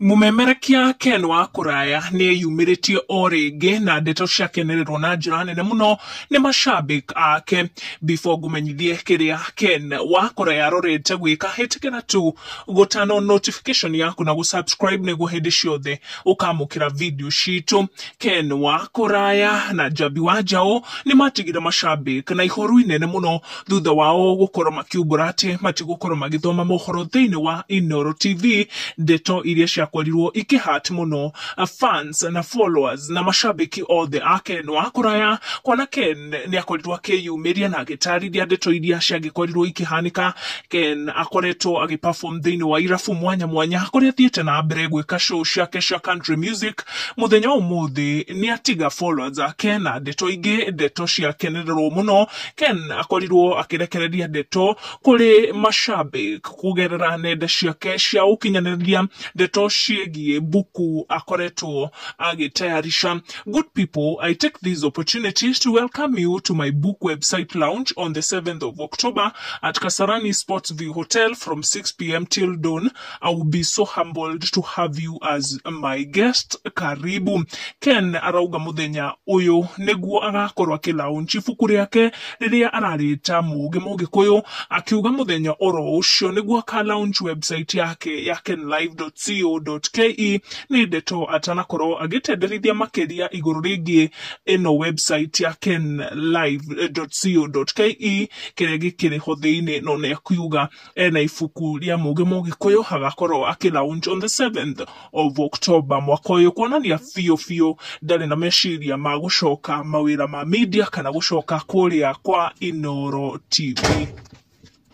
Mũmemerekia Ken wa Kũraya nĩ eyumĩrĩtie o rĩngĩ na ndeto ciakenererwo na njĩra nene mũno nĩ mashabĩk ake. Before ngũmenyithie kĩrĩa Ken wa Kũraya arorete gwĩka, hĩtĩkĩra tu gũtano notification yaku na gũ-subscribe nĩguo hĩndĩ ciothe ũkamũkĩra video citũ. Ken wa Kũraya na Njambi wa Njaũ nĩ matigĩre mashabĩk na ihoru inene mũno thutha wao gũkorwo makiumbũra atĩ matigũkorwo magĩthoma mohoro thĩinĩ wa Inooro TV, ndeto iria ciakorirwo ikĩ hurt mũno fans na followers na macambĩki othe a Ken wa kũraya, kuona Ken nĩakorirwo akĩyumĩria na agĩtarĩria ndeto iria ciangĩkorirwo ikĩhanĩka, Ken akoretwo agĩ perform thĩinĩ wa irabu mwanya mwanya kũrĩa athiĩte na mbere gwĩka show ciake cia country music, mũthenya wa ũmũthĩ nĩatiga followers ake na ndeto ingĩ, ndeto ciakenererwo mũno Ken akorirwo akĩrekereria ndeto kũrĩ mashabik kũgerera nenda ciake cia ũkinyanĩria ndeto ciĩgiĩ mbuku akoretwo agĩtayarisha. Good people, I take this opportunity to welcome you to my book website launch on the 7th of October at Kasarani Sports View Hotel from 6pm till dawn. I will be so humbled to have you as my guest. Karibu. Ken arauga muthenya uyu niguo agakorwo akilaunch ibuku riake riria ararita mugi mugikuyu akiuga muthenya oro ucio niguo akalaunch website yake ya kenlive.co.ke ni ndeto atanakorwo agitenderithia makiria iguru ringi ino website ya kenlive.co.ke kiria gikiriho thiini no ni akiuga ena ibuku rĩa mũgĩ mũgĩkũyũ agakorwo akĩ launch on the 7th of October mwaka ũyũ kuonania biũ biũ ndarĩ na meciria ma gũcoka mawĩra ma media kana gũcoka kũrĩa kwa Inoro TV.